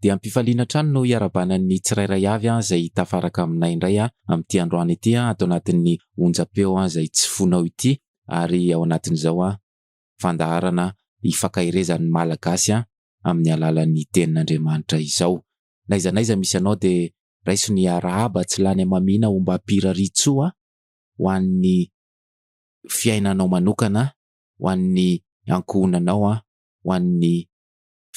Dia ampifaliana hatrany no hiarahabana ny tsirairay avy izay hitafaraka aminay indray amin'ity androany ity ato anatin'ny onjam-peo izay tsy fonao ity ary ao anatin'izao fandaharana hifankaherezan'ny Malagasy amin'ny alalan'ny Tenin'Andriamanitra izao. N'aiza n'aiza misy anao dia raiso ny arahaba tsy lany hamamiana ombam-piraritsoa ho an'ny fiainanao manokana, ho an'ny ankohonanao, ho an'ny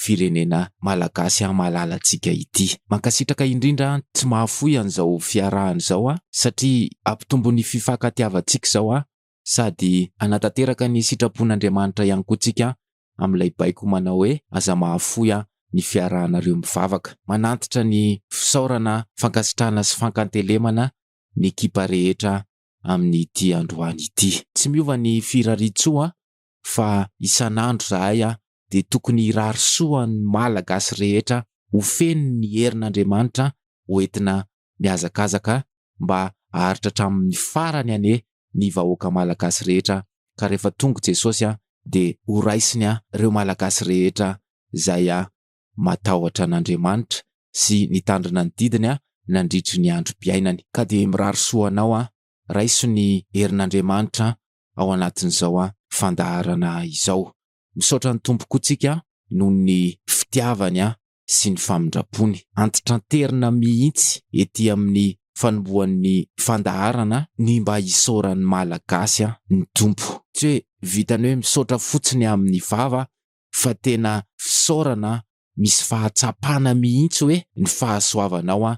firenena malagasy an malalantsika ity. Mankasitraka indrindra an tsy mahafoy an'izao fiarahana izao an satria ampitombo ny fifankatiavantsika izao an sady anatanteraka ny sitrapon'Andriamanitra ihany koa tsika an amin'ilay baiko manao hoe aza mahafoy an ny fiarahanareo mivavaka. Manantitra ny fisaorana fankasitrahana sy fankantelemana ny ekipa rehetra amin'ity androany ity. Tsy miova ny firariantsoa fa isan'andro zahay a dia tokony hirary soa ny Malagasy rehetra ho feno ny herin'Andriamanitra ho entina mihazakazaka mba aharitra hatramin'ny farany anie ny vahoaka Malagasy rehetra ka rehefa tonga Jesosy a dia ho raisiny a reo Malagasy rehetra zay a matahotra an'Andriamanitra sy nitandrina ny didiny a nandritry ny androm-piainany ka dia mirary soa anao a raiso ny herin'Andriamanitra ao anatin'izao fandaharana izao. Misaotra ny Tompo koa tsika noho ny fitiavany sy ny famindrampony. Antitranterina mihitsy ety amin'ny fanombohan'ny fandaharana ny mba hisaoran'ny Malagasy ny Tompo. Tsy hoe vitan'ny hoe misaotra fotsiny amin'ny vava fa tena fisaorana misy fahatsapana mihitsy hoe ny fahasoavanao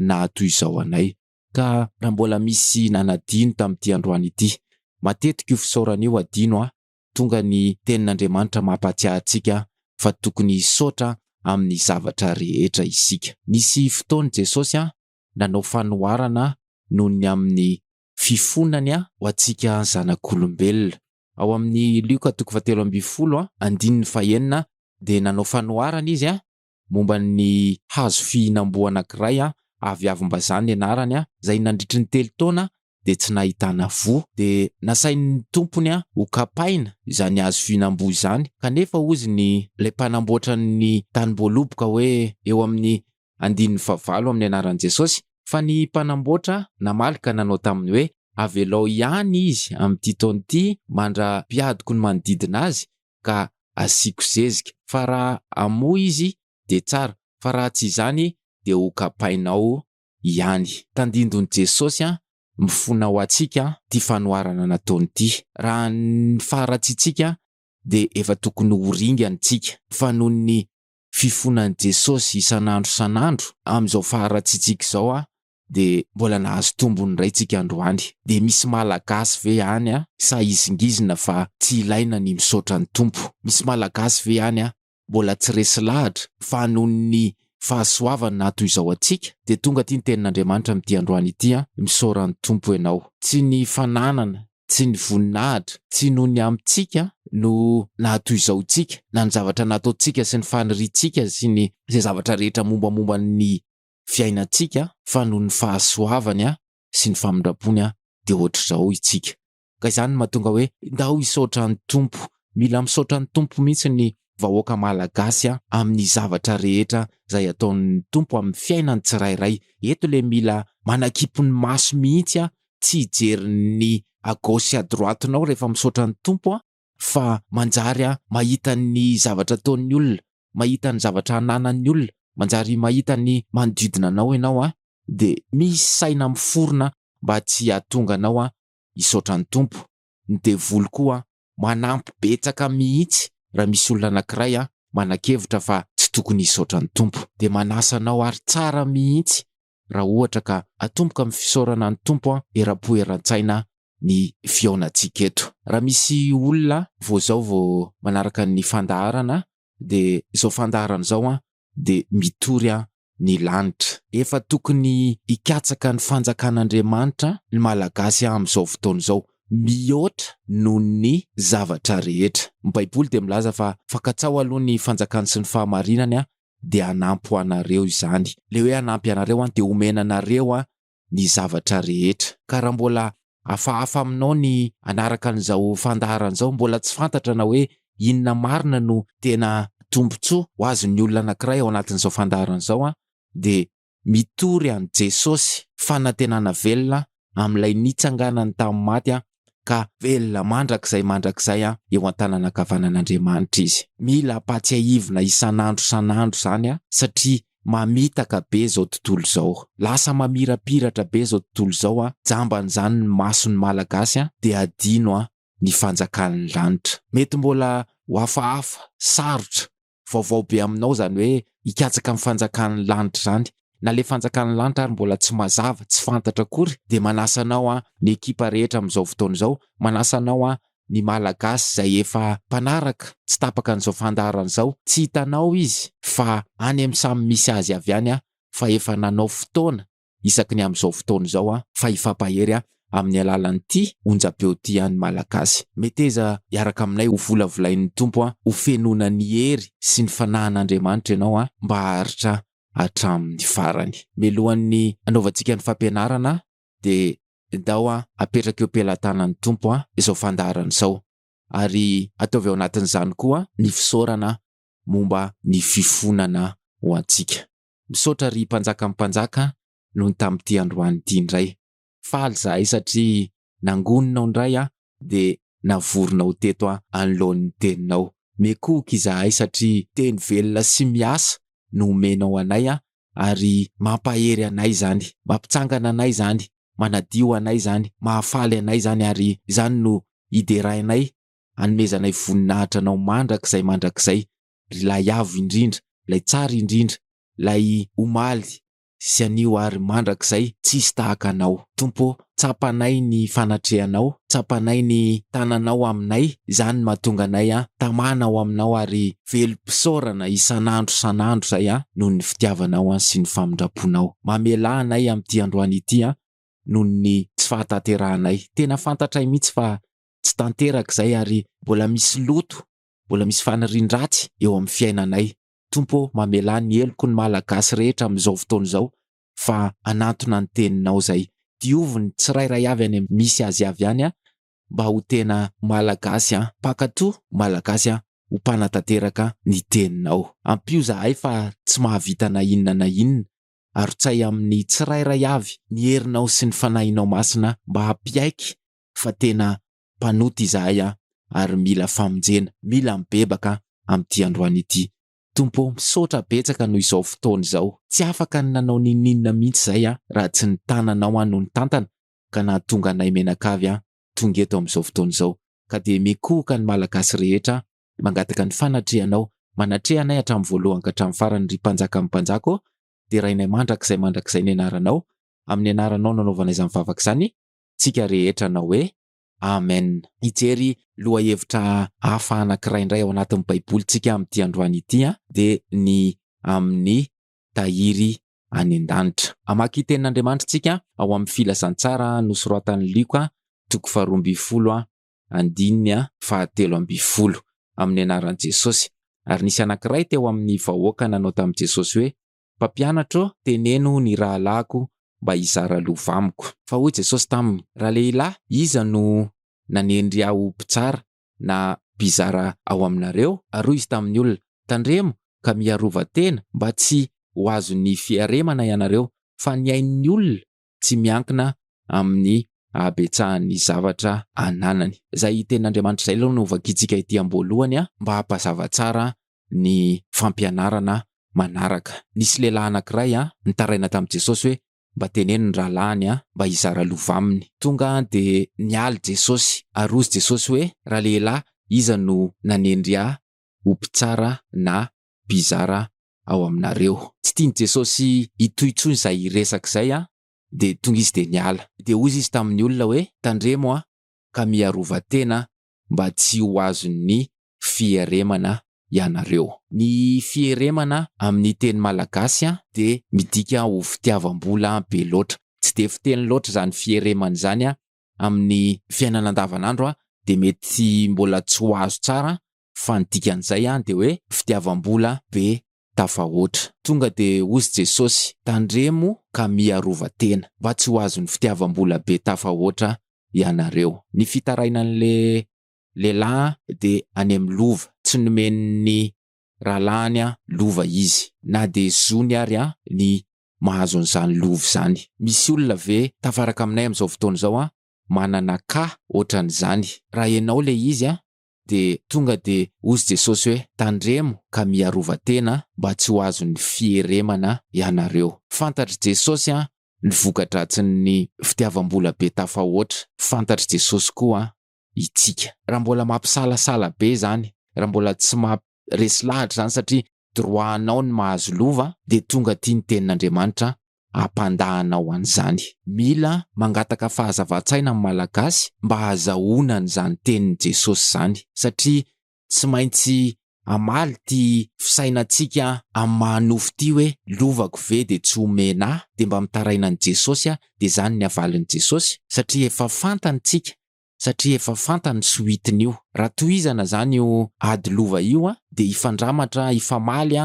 nahatoy izao anay. Ka raha mbola misy nanadino tamin'ity androany ity, matetika io fisaorana io adino a, tonga ny tenin'Andriamanitra mampahatsiahy antsika fa tokony hisaotra amin'ny zavatra rehetra isika. Nisy fotoana Jesosy nanao fanoharana noho ny amin'ny fifonany ho antsika zanak'olombelona. Ao amin'ny Lioka toko fahatelo ambin'ny folo, andininy fahenina dia nanao fanoharana izy momba ny hazo fihinam-boa anankiray aviavim-bazaha ny anarany, izay nandritry ny telo taona dia tsy nahitana voa. Dia nasain'ny tompony hokapaina izany hazo fihinam-boa izany, kanefa hozy ny ilay mpanamboatra ny tanim-boaloboka hoe eo amin'ny andininy fahavalo amin'ny anaran'i Jesosy, fa ny mpanamboatra namaly ka nanao taminy hoe, Avelao ihany izy amin'ity taona ity mandra-piadiko ny manodidina azy, ka asiako zezika fa raha amoa izy dia tsara fa raha tsy izany dia ho kapainao ihany. Tandindon'i Jesosy an, mifona ho antsika ity fanoharana nataony ity. Raha ny faharatsiantsika dia efa tokony ho ringany isika fa noho ny fifonan'i Jesosy isan'andro isan'andro amin'izao faharatsiantsika izao an, dia mbola nahazo tombony indray tsika androany. Dia misy malagasy ve any a sa izingizina fa tsy ilaina ny misaotra ny Tompo? Misy malagasy ve any a mbola tsy resy lahatra fa noho ny fahasoavany nahato izao antsika? Dia tonga aty ny tenin'Andriamanitra amin'ity androany ity a, misaora ny Tompo ianao. Tsy ny fananana, tsy ny voninahitra, tsy noho ny amintsika no nahato izao antsika, na ny zavatra nataontsika sy ny faniriantsika sy ny izay zavatra rehetra mombamomba ny fiainantsika fa noho ny fahasoavany sy ny famindrampony dia ohatr'izao itsika. Ka izany no mahatonga hoe ndao hisaotra an'i Tompo. Mila misaotra an'i Tompo mihitsy ny vahoaka Malagasy amin'ny zavatra rehetra izay ataon'ny Tompo amin'ny fiainan'ny tsirairay. Eto le mila manakimpy ny maso mihitsy tsy hijery ny à gauche sy à droite-nao rehefa misaotra an'i Tompo. fa manjary mahita ny zavatra ataon'ny olona, mahita ny zavatra ananan'ny olona, manjary mahita ny manodidina anao ianao dia misy saina miforona mba tsy hahatonga anao hisaotra ny Tompo. Ny devoly koa manampy betsaka mihitsy raha misy olona anankiray manakevitra fa tsy tokony hisaotra ny Tompo dia manasa anao ary tsara mihitsy raha ohatra ka atomboka amin'ny fisaorana ny Tompo an, eram-po eran-tsaina ny fihaonantsika eto. Raha misy olona vao zao vao manaraka ny fandaharana de zao fandaharana zao an de mitory an ny lanitra. Efa tokony hikatsaka ny fanjakan'Andriamanitra ny Malagasy an amin'izao fotoana izao mihoatra noho ny zavatra rehetra. Ny baiboly dia milaza fa fankatsaho aloha ny fanjakany sy ny fahamarinany an dia hanampy ho anareo izany. Ilay hoe hanampy anareo an, dia homena anareo an, ny zavatra rehetra. Ka raha mbola hafahafa aminao ny hanaraka an'izao fandaharana izao, mbola tsy fantatra na hoe inona marina no tena tombontsoa ho azon'ny olona anankiray ao anatin'izao fandaharana izao an, dia mitory an'i Jesosy, fanantenana velona amin'ilay nitsanganany tamin'ny maty ka velona mandrakizay mandrakizay eo an-tanana ankavanan'Andriamanitra izy. Mila ampahatsiahivina isan'andro isan'andro izany satria mamitaka be izao tontolo izao. Lasa mamirapiratra be izao tontolo izao, jamban'izany ny mason'ny Malagasy dia hadino ny fanjakan'ny lanitra. Mety mbola ho hafahafa, sarotra vaovao be aminao izany hoe hikatsaka ny fanjakan'ny lanitra izany, na ilay fanjakan'ny lanitra ary mbola tsy mazava, tsy fantatra akory, dia manasa anao an, ny ekipa rehetra amin'izao fotoana izao, manasa anao an, ny Malagasy izay efa mpanaraka tsy tapaka an'izao fandaharana izao, tsy hitanao izy fa any amin'ny samy misy azy avy any an, fa efa nanao fotoana isaky ny amin'izao fotoana izao an, fa hifampahery an amin'ny alalan'ity onjam-peo ity an ny Malagasy. Meteza hiaraka aminay ho volavolain'ny Tompo an, ho fenoina ny hery sy ny fanahin'Andriamanitra ianao an, mba haharitra hatramin'ny farany. Mialohan'ny hanaovantsika ny fampianarana dia ndao an apetraka eo am-pelatanan'ny Tompo an izao fandaharana izao, ary ataovy ao anatin'izany koa ny fisaorana momba ny fifonana ho antsika. Misaotra ry mpanjakan'ny mpanjaka nony tamin'ity androany ity indray. Faly zahay satria nangoninao indray aho dia navorinao teto aho anoloan'ny teninao. Miekohoka izahay satria teny velona sy miasa no omenao anay aho ary mampahery anay izany, mampitsangana anay izany, manadio anay izany, mahafaly anay izany ary izany no hiderainay hanomezanay voninahitra anao mandrakizay mandrakizay ilay avo indrindra, ilay tsara indrindra, ilay omaly sy anio ary mandrakizay tsisy tahaka Anao. Tompo ô, tsapanay ny fanatrehanao, tsapanay ny tananao aminay, izany no mahatonga anay an tamana ao Aminao ary velom-pisaorana isan'andro isan'andro izay an noho ny fitiavanao an sy ny famindramponao. Mamelà anay amin'ity androany ity an noho ny tsy fahatanterahanay. Tena fantatray mihitsy fa tsy tanteraka izay ary mbola misy loto Mbola misy fanirian-dratsy eo amin'ny fiainanay. Tompo ô, mamelà ny heloko ny Malagasy rehetra amin'izao fotoana izao fa hanantona ny Teninao izay. Diovy ny tsirairay avy any amin'ny misy azy avy any an, mba ho tena Malagasy an, mpankatò, Malagasy an, ho mpanatanteraka ny Teninao. Ampio zahay fa tsy mahavita na inona na inona. Arotsay amin'ny tsirairay avy ny herinao sy ny Fanahinao Masina mba hampiaiky fa tena mpanota izahay an, ary mila famonjena, mila mibebaka amin'ity androany ity. Tompo ô, misaotra betsaka noho izao fotoana izao. Tsy afaka ny nanao n'inon'inona mihitsy izahay an, raha tsy ny tananao an no nitantana, ka nahatonga anay mianakavy an, tonga eto amin'izao fotoana izao. Ka dia mikohoka ny Malagasy rehetra an, mangataka ny fanatrehanao, manatreha anay hatramin'ny voalohany ka hatramin'ny farany ry Mpanjakan'ny mpanjaka ô, derainay mandrakizay mandrakizay ny anaranao, amin'ny anaranao nanaovana izany vavaka izany, tsika rehetra hanao hoe, Amen. Hijery lohahevitra hafa anankiray indray ao anatin'ny Baibolintsika amin'ity androany ity, dia ny amin'ny tahiry any an-danitra. Hamaky Tenin'Andriamanitra tsika ao amin'ny Filazantsara nosoratan'i Lioka, toko faharoa ambin'ny folo, andininy fahatelo ambin'ny folo, amin'ny anaran'i Jesosy. Ary nisy anankiray teo amin'ny vahoaka nanao tamin'i Jesosy hoe, Mpampianatra ô, teneno ny rahalahiko mba hizara lova amiko. Fa hoy Jesosy taminy, Ralehilahy, iza no nanendry ahy ho mpitsara na mpizara ao aminareo? Ary hoy izy tamin'ny olona, Tandremo ka miarova tena mba tsy ho azon'ny fiaremana ianareo, fa ny ain'ny olona tsy miankina amin'ny habetsahan'ny zavatra ananany. Izay tenin'Andriamanitra izay aloha no hovakiantsika ety am-boalohany mba hampazava tsara ny fampianarana manaraka. Nisy lehilahy anankiray nitaraina tamin'i Jesosy hoe, Mba teneno ny rahalahiny mba hizara lova aminy. Tonga dia nialy Jesosy, ary hozy Jesosy hoe, Ralehilahy, iza no nanendry ahy ho mpitsara na mpizara ao aminareo. Tsy tian'i Jesosy hitohy intsony izay hiresaka izay an, dia tonga izy dia niala. Dia hozy izy tamin'ny olona hoe, Tandremo an, ka miarova tena mba tsy ho azon'ny fieremana ianareo. Ny fieremana amin'ny teny malagasy an, dia midika ho fitiavam-bola be loatra. Tsy dia fiteny loatra izany fieremana izany an, amin'ny fiainana andavanandro an, dia mety mbola tsy ho azo tsara fa ny dikan'izay an dia hoe fitiavam-bola be tafahoatra. Tonga dia hozy Jesosy, tandremo ka miarova tena, mba tsy ho azon'ny fitiavam-bola be tafahoatra ianareo. Ny fitarainan'ilay lehilahy dia any amin'ny lova, tsy nomen'ny rahalahiny lova izy, na dia zony ary ny mahazo an'izany lova izany. Misy olona ve tafaraka aminay amin'izao fotoana izao manana cas ohatran'izany? Raha ianao ilay izy dia tonga dia hozy Jesosy hoe, Tandremo ka miarova tena mba tsy ho azon'ny fieremana ianareo. Fantatr'i Jesosy ny voka-dratsin'ny fitiavam-bola be tafahoatra. Fantatr'i Jesosy koa itsika. Raha mbola mampisalasala be izany, raha mbola tsy maha resy lahatra izany satria droit anao ny mahazo lova dia tonga aty ny tenin'Andriamanitra ampandahanao an'izany. Mila mangataka fahazavan-tsaina ny Malagasy mba hahazahoana an'izany tenin'i Jesosy izany, satria tsy maintsy hamaly ity fisainantsika amin'ny maha nofo ity hoe, lovako ve dia tsy omena ahy, dia mba mitaraina an'i Jesosy aho, dia izany ny havalin'i Jesosy, satria efa fantany tsika, satria efa fantany ny soitin'io. Raha tohizana izany io ady lova io dia hifandramatra, hifamaly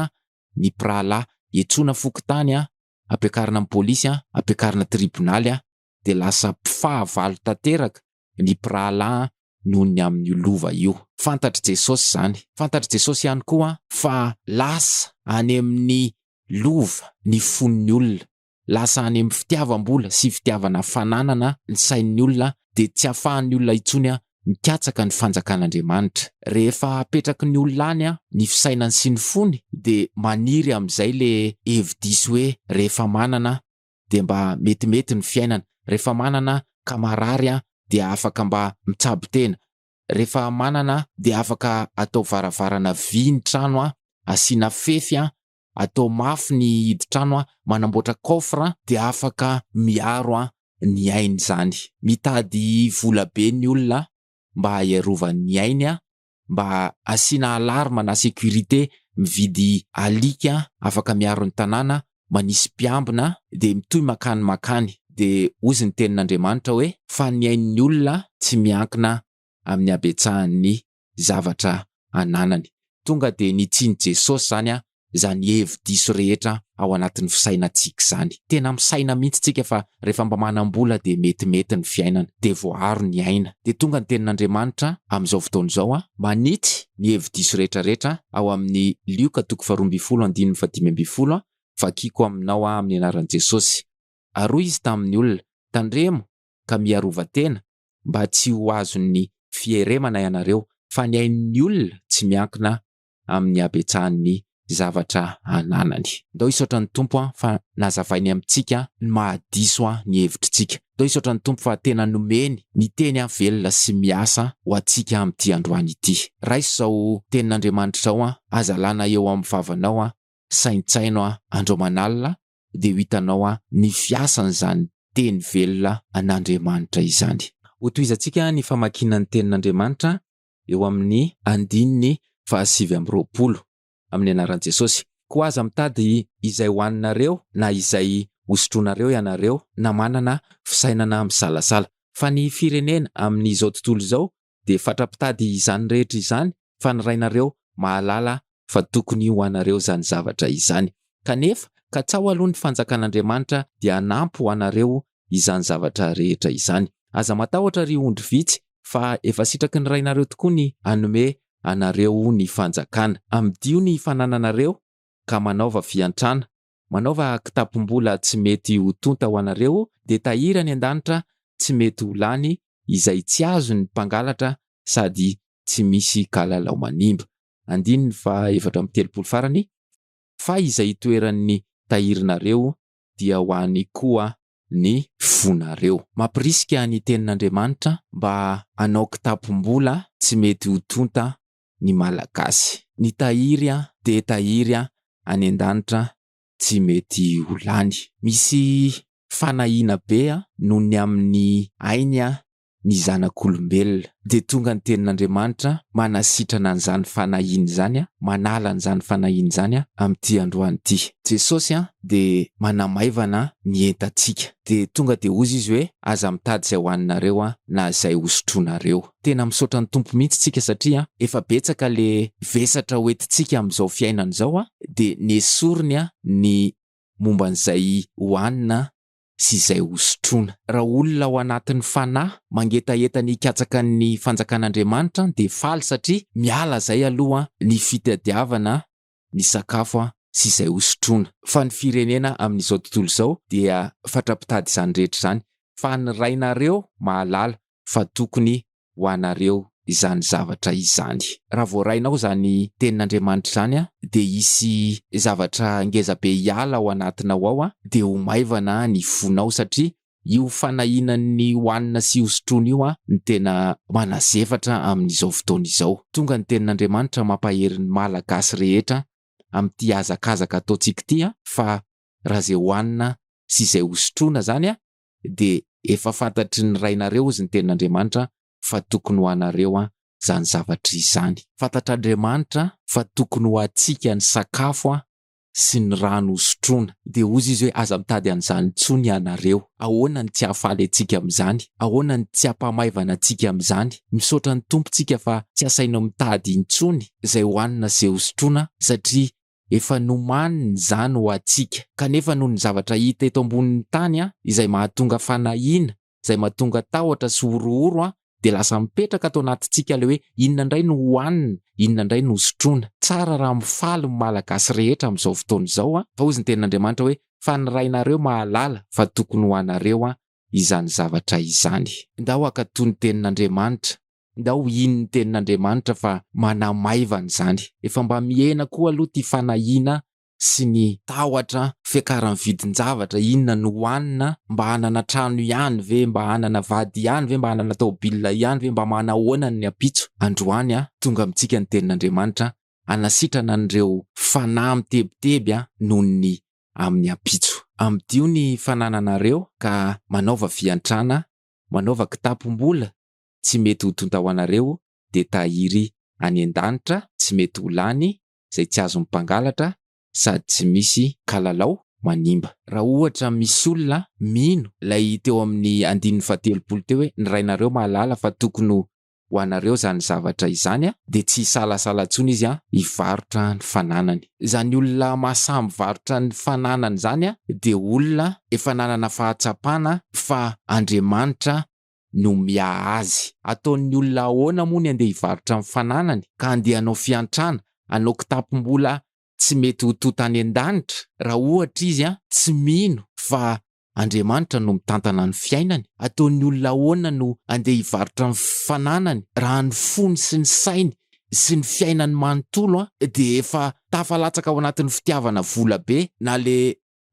ny mpirahalahy, iantsoana fokontany an, ampiakarina amin'ny polisy an, ampiakarina tribonaly an, dia lasa mpifahavalo tanteraka ny mpirahalahy an noho ny amin'io lova io. Fantatr'i Jesosy izany. Fantatr'i Jesosy ihany koa fa lasa any amin'ny lova ny fon'ny olona. lasa any amin'ny fitiavam-bola sy fitiavana fananana ny sain'ny olona dia tsy afahan'ny olona intsony mikatsaka ny fanjakan'Andriamanitra. Rehefa apetraky ny olona any ny fisainany sy ny fony dia maniry amin'izay le hevi-diso hoe rehefa manana dia mba metimety ny fiainana, rehefa manana ka marary dia afaka mba mitsabo tena, rehefa manana dia afaka atao varavarana vy ny trano asiana fefy atao mafy ny hidin-trano, manamboatra coffre dia afaka miaro ny ainy izany. Mitady vola be ny olona mba hiarovany ny ainy, mba asiana alarme na sécurité, mividy alika afaka miaro ny tanàna, manisy mpiambina, dia mitohy mankany mankany. Dia hozy ny tenin'Andriamanitra hoe, Fa ny ain'ny olona tsy miankina amin'ny habetsahan'ny zavatra ananany. Tonga dia nitsin'i Jesosy izany izany hevi-diso rehetra ao anatin'ny fisainantsika izany. Tena misaina mihitsy tsika fa rehefa mba manam-bola dia metimety ny fiainana, dia voaaro ny aina. Dia tonga ny tenin'Andriamanitra amin'izao fotoana izao manitsy ny hevi-diso rehetra rehetra ao amin'ny Lioka toko faharoa ambin'ny folo andininy fahadimy ambin'ny folo, Vakiko aminao aho amin'ny anaran'i Jesosy. Ary hoy izy tamin'ny olona, Tandremo, ka miarova tena mba tsy ho azon'ny fieremana ianareo fa ny ain'ny olona tsy miankina amin'ny habetsahan'ny zavatra ananany. Ndao hisaotra ny Tompo an fa nazavainy amintsika ny mahadiso an ny hevitritsika. Ndao hisaotra ny Tompo fa tena nomeny ny teny an velona sy miasa ho antsika amin'ity androany ity. Raiso izao tenin'Andriamanitra izao an, aza lana eo amin'ny vavanao an, saintsaino an, andro aman'alina dia ho hitanao aho ny fiasan'izany teny velona an'Andriamanitra izany. Hotohizantsika ny famakiana ny tenin'Andriamanitra eo amin'ny andininy fahasivy amby roapolo, amin'ny anaran'i Jesosy. Koa aza mitady izay hohaninareo na izay hosotroinareo ianareo na manana fisainana misalasala, fa ny firenena amin'izao tontolo izao dia fatra-pitady izany rehetra izany fa ny Rainareo mahalala fa tokony ho anareo izany zavatra izany. Kanefa, katsaho aloha ny fanjakan'Andriamanitra dia hanampy ho anareo izany zavatra rehetra izany. Aza matahotra ry ondry vitsy fa efa sitraky ny Rainareo tokoa ny hanome anareo ny fanjakana. Amidio ny fanananareo ka manaova fiantrana Manaova kitapom-bola tsy mety ho tonta ho anareo dia tahiry any an-danitra tsy mety ho lany izay tsy azon'ny mpangalatra sady tsy misy kalalao manimba. Andininy faha efatra amby telopolo farany, fa izay itoeran'ny tahirinareo dia ho any koa ny fonareo. Mampirisika ny Tenin'Andriamanitra mba hanao kitapom-bola tsy mety ho tonta ny malagasy. Ny tahiry an dia tahiry an any an-danitra tsy mety ho lany. Misy fanahiana be an noho ny amin'ny ainy an ny zanak'olombelona. Dia tonga ny tenin'Andriamanitra manasitrana an'izany fanahiana izany an, manala an'izany fanahiana izany an amin'ity androany ity. Jesosy an dia manamaivana ny entantsika. Dia tonga dia hozy Izy hoe, aza mitady izay hohaninareo an na izay hosotroinareo. Tena misaotra ny Tompo mihitsy tsika satria efa betsaka le vesatra ho entintsika amin'izao fiainana izao a, de nesoriny a ny momba an'izay hohanina sy izay hosotroina. Raha olona ao anatin'ny fanahy mangetaheta ny hikatsaka ny fanjakan'Andriamanitra de faly satria miala izay aloha ny fitadiavana ny sakafo an sy izay ho sotroina. Fa ny firenena amin'izao tontolo izao dia fatra-pitady izany rehetra izany fa ny rainareo mahalala fa tokony ho anareo izany zavatra izany. Raha voarainao izany tenin'Andriamanitra izany an dia hisy zavatra ngezabe hiala ao anatinao ao an dia ho maivana ny fonao satria Io fanahinan'ny hohanina sy hosotroina io no tena manazefatra amin'izao fotoana izao. Tonga ny tenin'Andriamanitra mampahery ny Malagasy rehetra amin'ity hazakazaka ataontsika ity fa raha izay hohanina sy izay hosotroina izany dia efa fantatry ny rainareo hozy ny tenin'Andriamanitra fa tokony ho anareo izany zavatra izany. Fantatr'Andriamanitra fa tokony ho antsika ny sakafo sy ny rano hosotroina. Dia hozy izy hoe, Aza mitady an'izany intsony ianareo. Ahoana no tsy hahafaly antsika amin'izany? Ahoana no tsy hampahamaivana antsika amin'izany? Misaotra ny Tompo isika fa tsy asaina mitady intsony izay hohanina sy hosotroina, satria efa nomaniny izany ho antsika. Kanefa noho ny zavatra hita eto ambonin'ny tany izay mahatonga fanahiana, izay mahatonga tahotra sy horohoro an, dia lasa mipetraka ato anatintsika ilay hoe inona indray no hohanina, inona indray no hosotroina. Tsara raha mifaly ny Malagasy rehetra amin'izao fotoana izao an, fa hozy ny tenin'Andriamanitra hoe fa ny Rainareo mahalala fa tokony ho anareo an izany zavatra izany. Ndao hankatò ny tenin'Andriamanitra, ndao hino ny tenin'Andriamanitra fa manamaivana izany. Efa mba mihena koa aloha ity fanahiana sy ny tahotra fiakaran'ny vidin-javatra, inona no hohanina, mba hanana trano ihany ve, mba hanana vady ihany ve, mba hanana taobilina ihany ve, mba manahoana ny ampitso? Androany a, tonga amintsika ny tenin'Andriamanitra hanasitrana an'ireo fanahy mitebiteby a, noho ny amin'ny ampitso. Amidio ny fanananareo ka manaova fiantrana, manaova kitapom-bola tsy mety ho tonta ho anareo, dia tahiry any an-danitra tsy mety ho lany, izay tsy azon'ny mpangalatra sady tsy misy kalalao manimba. Raha ohatra misy olona mino ilay teo amin'ny andininy fahatelopolo teo hoe ny Rainareo mahalala fa tokony ho anareo izany zavatra izany dia tsy hisalasala intsony izy hivarotra ny fananany. Izany olona mahasahy mivarotra ny fananany izany dia olona efa nanana fahatsapana fa Andriamanitra no miaha azy. Ataon'ny olona ahoana moa ny andeha hivarotra ny fananany ka andeha hanao fiantrana, hanao kitapom-bola tsy mety ho tonta any an-danitra? Raha ohatra izy tsy mino fa Andriamanitra no mitantana ny fiainany, ataon'ny olona ahoana no andeha hivarotra ny fananany raha ny fony sy ny sainy sy ny fiainany manontolo dia efa tafalatsaka ao anatin'ny fitiavana vola be na le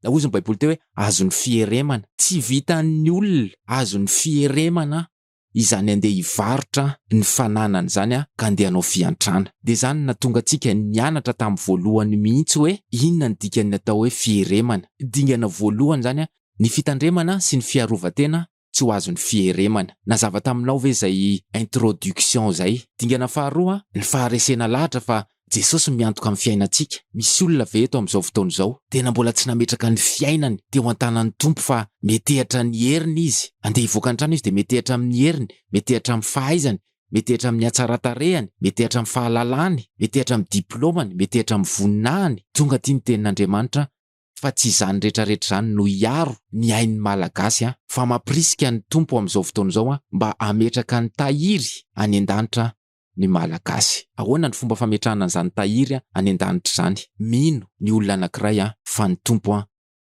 Na hozy ny Baiboly teo hoe, Azon'ny fieremana. Tsy vitan'ny olona, azon'ny fieremana izany handeha hivarotra ny fananany izany ka handeha hanao fiantrana. Dia izany no nahatonga antsika nianatra tamin'ny voalohany mihitsy hoe inona ny dikan'ny atao hoe fieremana. Dingana voalohany izany ny fitandremana sy ny fiarovan-tena tsy ho azon'ny fieremana. Nazava taminao ve izay introduction izay? Dingana faharoa, ny faharesena lahatra fa Jesosy no miantoka ny fiainantsika. Misy olona ve eto amin'izao fotoana izao, tena mbola tsy nametraka ny fiainany teo an-tanan'ny Tompo fa metehatra ny heriny izy? Andeha hivoaka ny trano izy dia metehatra amin'ny heriny, metehatra amin'ny fahaizany, metehatra amin'ny hatsaran-tarehany, metehatra amin'ny fahalalany, metehatra amin'ny diplaomany, metehatra amin'ny voninahiny. Tonga aty ny Tenin'Andriamanitra fa tsy izany rehetra rehetra izany no hiaro ny ain'ny Malagasy an! fa mampirisika ny Tompo amin'izao fotoana izao an mba hametraka ny tahiry any an-danitra ny Malagasy. Ahoana ny fomba fametrahana an'izany tahiry any an-danitra izany? Mino ny olona anankiray an fa ny Tompo an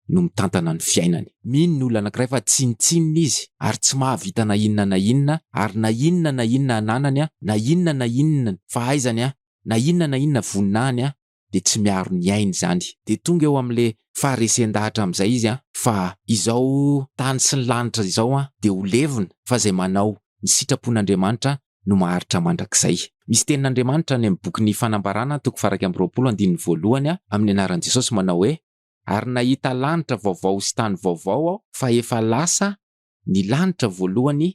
no mitantana ny fiainany. Mino ny olona anankiray fa tsinontsinona izy ary tsy mahavita na inona na inona ary na inona na inona ananany an, na inona na inona ny fahaizany an, na inona na inona voninahiny an, dia tsy miaro ny ainy izany. Dia tonga eo amin'ilay faharesen-dahatra amin'izay izy an, fa izao tany sy ny lanitra izao an dia ho levona, fa izay manao ny sitrapon'Andriamanitra no maharitra mandrakizay. Misy tenin'Andriamanitra any amin'ny bokin'ny Fanambarana toko faha iraika amby roapolo andininy voalohany an, amin'ny anaran'i Jesosy manao hoe, Ary nahita lanitra vaovao sy tany vaovao aho, fa efa lasa ny lanitra voalohany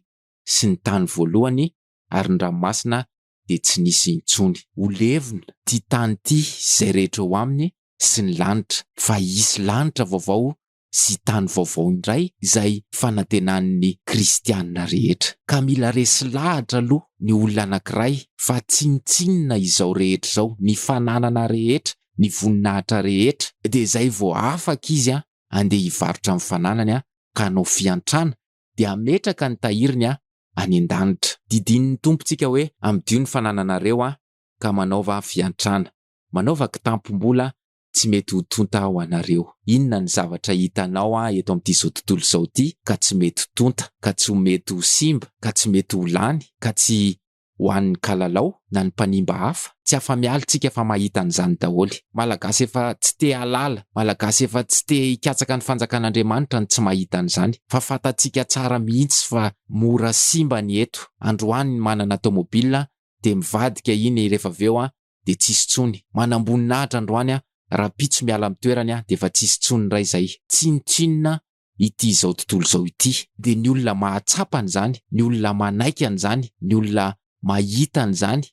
sy ny tany voalohany, ary ny ranomasina dia tsy nisy intsony. Ho levona 'ty tany 'ty izay rehetra eo aminy sy ny lanitra, fa hisy lanitra vaovao sy tany vaovao indray izay fanantenan'ny kristiana rehetra. Ka mila resy lahatra aloha ny olona anankiray fa tsinontsinona izao rehetra izao, ny fananana rehetra, ny voninahitra rehetra, dia izay vao afaka izy handeha hivarotra ny fananany ka hanao fiantrana dia hametraka ny tahiriny any an-danitra. Didinin'ny Tompo tsika hoe, Amidio ny fanananareo aho, ka manaova fiantrana. Manaova kitampom-bola tsy mety ho tonta ho anareo. Inona ny zavatra hitanao eto amin'ity izao tontolo izao ity ka tsy mety ho tonta, ka tsy ho mety ho simba, ka tsy mety ho lany, ka tsy ho an'ny kalalao na ny mpanimba hafa, tsy afa-miala tsika fa mahita an'izany daholo. Malagasy efa tsy te halala, Malagasy efa tsy te hikatsaka ny fanjakan'Andriamanitra no tsy mahita an'izany, fa fantatsika tsara mihitsy fa mora simba ny eto, androany ny manana tomobil dia mivadika iny rehefa avy eo dia tsisy tsony, manamboninahitra androany rahampitso miala amin'ny toerany dia efa tsisy tsony indray izay, tsinontsinona ity izao tontolo izao ity. Dia ny olona mahatsapa an'izany, ny olona manaiky an'izany, ny olona mahita an'izany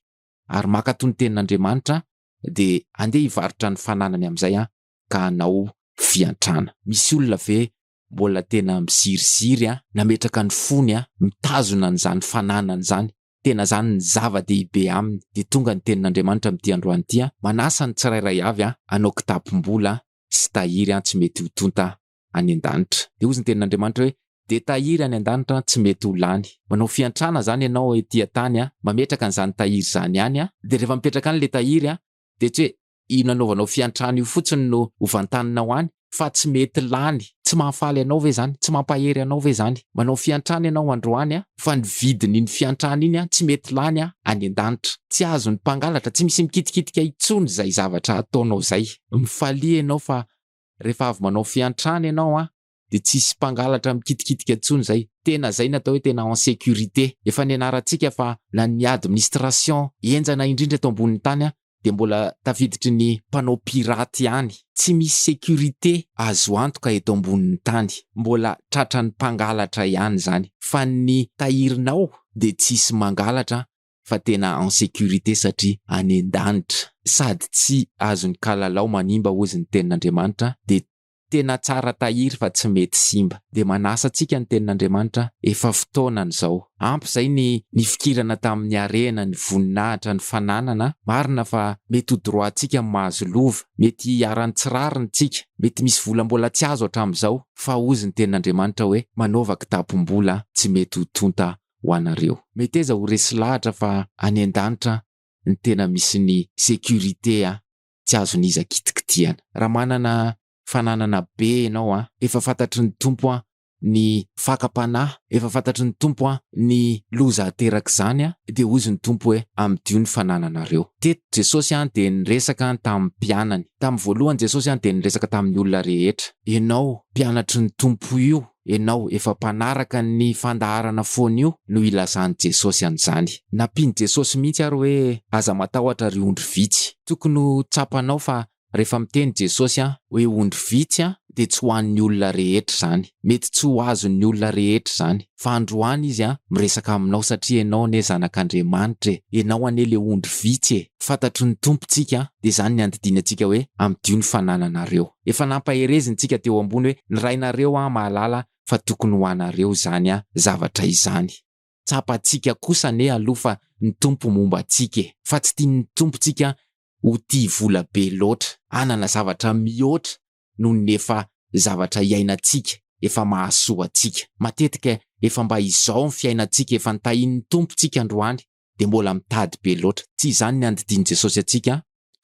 ary mankato ny tenin'Andriamanitra dia andeha hivarotra ny fananany amin'izay an, ka hanao fiantrana. Misy olona ve mbola tena miziriziry an, nametraka ny fony an, mitazona an'izany fananany izany, tena izany ny zava-dehibe aminy, dia tonga ny tenin'Andriamanitra amin'ity androany ity an, manasa ny tsirairay avy an, hanao kitapom-bola sy tahiry an, tsy mety ho tonta any an-danitra. Dia hozy ny tenin'Andriamanitra hoe, Dia tahiry any an-danitra tsy mety ho lany. Manao fiantrana izany ianao ety an-tany, mametraka an'izany tahiry izany any, dia rehefa mipetraka any ilay tahiry, dia tsy hoe io nanaovanao fiantrana io fotsiny no hovantaninao any, fa tsy mety lany. Tsy mahafaly anao ve izany? Tsy mampahery anao ve izany? Manao fiantrana ianao androany, fa ny vidin'iny fiantrana iny tsy mety lany any an-danitra. Tsy azon'ny mpangalatra, tsy misy mikitikitika intsony izay zavatra ataonao izay. Mifalia ianao fa rehefa avy manao fiantrana ianao an, dia tsy hisy mpangalatra mikitikitika intsony izay, tena izay no atao hoe tena en sécurité, efa nianarantsika fa na ny administration henjana indrindra eto ambonin'ny tany an, dia mbola tafiditry ny mpanao pirate ihany, tsy misy sécurité azo antoka eto ambonin'ny tany, mbola tratran'ny mpangalatra ihany izany, fa ny tahirinao dia tsy hisy mangalatra fa tena en sécurité satria any an-danitra sady tsy azon'ny kalalao manimba hozy ny tenin'Andriamanitra dia tena tsara tahiry fa tsy mety simba dia manasa antsika ny tenin'Andriamanitra efa fotoanany zao ampy zay ny nifikirana tamin'ny harena ny voninahitra ny fananana marina fa mety ho droit antsika mahazo lova mety hiharan'ny tsy rariny tsika mety misy vola mbola tsy azo hatramin'izao fa hozy ny tenin'Andriamanitra hoe manaova kitapom-bola tsy mety ho tonta ho anareo. Meteza ho resy lahatra fa any an-danitra ny tena misy ny sécurité a! Tsy azon'iza kitikitihana. Raha manana fananana be enao a! Efa fantatry ny Tompo a! Ny fakam-panahy, efa fantatry ny Tompo a! Ny loza aterak'izany a! Dia hozy ny Tompo hoe, amidio ny fanananareo. Teto Jesosy a! Dia niresaka tamin'ny mpianany. Tamin'ny voalohany Jesosy a! Dia niresaka tamin'ny olona rehetra. Enao, mpianatry ny Tompo io, enao efa mpanaraka ny fandaharana foana io no ilazan'i Jesosy an'izany. Nampian'i Jesosy mihitsy ary hoe aza matahotra ry ondry vitsy. Tokony ho tsapanao fa rehefa miteny Jesosy hoe ondry vitsy dia tsy ho an'ny olona rehetra izany. Mety tsy ho azon'ny olona rehetra izany. Fa androany izy miresaka aminao satria enao anie zanak'Andriamanitra e! Enao anie le ondry vitsy e! Fantatry ny Tompontsika dia izany ny andidiany antsika hoe ampidio ny fanananareo. Efa nampaherezintsika teo ambony hoe ny Rainareo an mahalala fa tokony ho anareo izany an zavatra izany. Tsapantsika kosa anie aloha fa ny Tompo momba antsika e! Fa tsy tian'ny Tompo tsika ho tia vola be loatra, hanana zavatra mihoatra noho ny efa zavatra iainantsika, efa mahasoa antsika. Matetika efa mba izao ny fiainantsika efa nitahian'ny Tompo tsika androany dia mbola mitady be loatra. Tsy izany ny andidian'i Jesosy antsika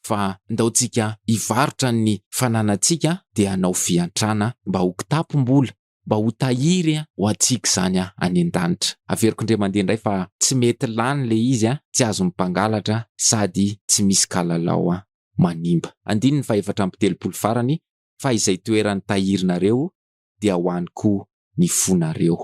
fa ndao tsika hivarotra ny fananantsika dia hanao fiantrana mba ho kitapom-bola, mba ho tahiry ho antsika izany any an-danitra. Averiko indray mandeha indray fa tsy mety lany ilay izy, tsy azon'ny mpangalatra sady tsy misy kalalao manimba. Andininy fahefatra amby telopolo farany, Fa izay toerany tahirinareo dia ho any koa ny fonareo.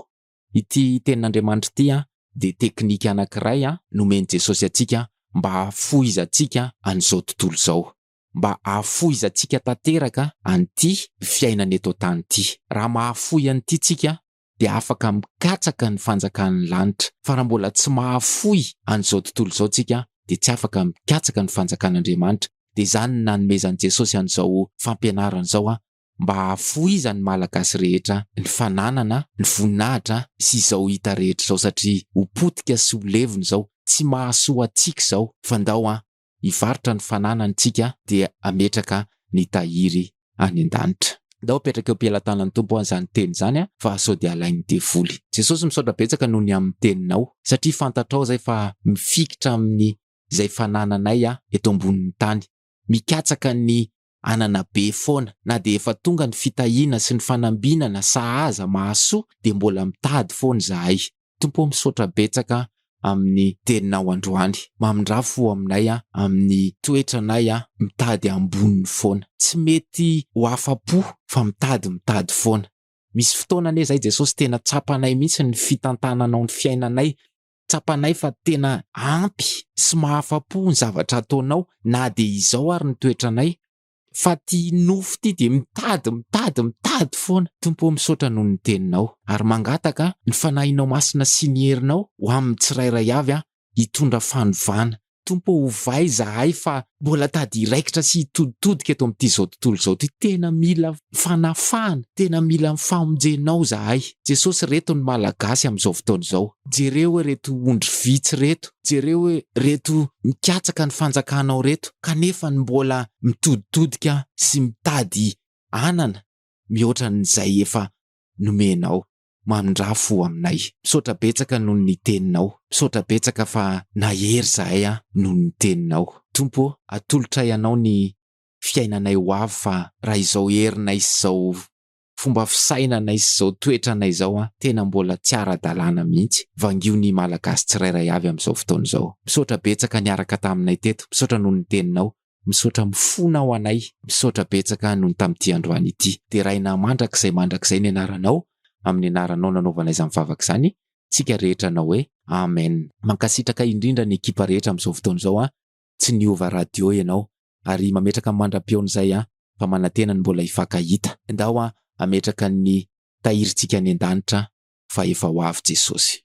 Ity Tenin'Andriamanitra ity dia teknika anankiray nomen'i Jesosy antsika mba hahafoizantsika an'izao tontolo izao, mba hahafoizantsika tanteraka an'ity fiainana eto an-tany ity. Raha mahafoy an'ity isika dia afaka mikatsaka ny fanjakan'ny lanitra, fa raha mbola tsy mahafoy an'izao tontolo izao isika dia tsy afaka mikatsaka ny fanjakan'Andriamanitra. Dia izany no nanomezan'i Jesosy an'izao fampianarana izao mba hahafohizan'ny Malagasy rehetra ny fananana, ny voninahitra sy izao hita rehetra izao satria ho potika sy ho levona izao tsy mahasoa antsika izao fa ndao an hivarotra ny fananany tsika dia hametraka ny tahiry any an-danitra. Ndao apetraka eo am-pelatanan'ny Tompo an izany teny izany an fa sao dia alain'ny devoly. Jesosy misaotra betsaka noho ny amin'ny teninao satria fantatrao izay fa mifikitra amin'ny izay fanananay an eto ambonin'ny tany. Mikatsaka ny anana be foana na dia efa tonga ny fitahiana sy ny fanambinana sahaza mahasoa dia mbola mitady foana izahay. Tompo ô misaotra betsaka amin'ny teninao androany. Mamindrà fo aminay amin'ny toetranay mitady amboniny foana. Tsy mety ho afa-po fa mitady mitady foana. Misy fotoana anie izahay Jesosy tena tsapanay mihitsy ny fitantananao ny fiainanay tsapanay fa tena ampy sy mahafa-po ny zavatra ataonao na dia izao ary ny toetranay fa ty nofo ty dia mitady mitady mitady foana Tompo ô misaotra noho ny teninao ary mangataka ny fanahinao masina sy ny herinao ho amin'ny tsirairay avy an hitondra fanovana Tompo ô ovay izahay fa mbola tady hiraikitra sy hitoditodika eto amin'ity izao tontolo izao ity, tena mila fanafahana, tena mila ny famonjenao izahay Jesosy, reto ny Malagasy amin'izao fotoana izao, jereo hoe reto ondry vitsy reto, jereo hoe reto mikatsaka ny fanjakanao reto kanefa ny mbola mitoditodika sy mitady hanana mihoatra an'izay efa nomenao. mamindrafo aminay. Misaotra betsaka noho ny teninao. Misaotra betsaka fa nahery zahay an noho ny teninao. Tompo ô, atolotray anao ny fiainanay ho avy fa raha izao herinay sy izao fomba fisainanay sy izao toetranay izao an tena mbola tsy ara-dalàna mihitsy. Vangio ny Malagasy tsirairay avy amin'izao fotoana izao. Misaotra betsaka niaraka taminay teto. Misaotra noho ny teninao. Misaotra mifona ho anay. Misaotra betsaka noho ny tamin'ity androany ity. Deraina mandrakizay mandrakizay ny anaranao, amin'ny anaranao nanaovana izany vavaka izany, tsika rehetra hanao hoe Amen. Mankasitraka indrindra ny ekipa rehetra amin'izao fotoana izao an, tsy niova radio ianao, ary mametraka mandra-peon'izay an, fa manantena ny mbola hifankahita. Ndao an, hametraka ny tahirintsika any an-danitra fa efa ho avy Jesosy.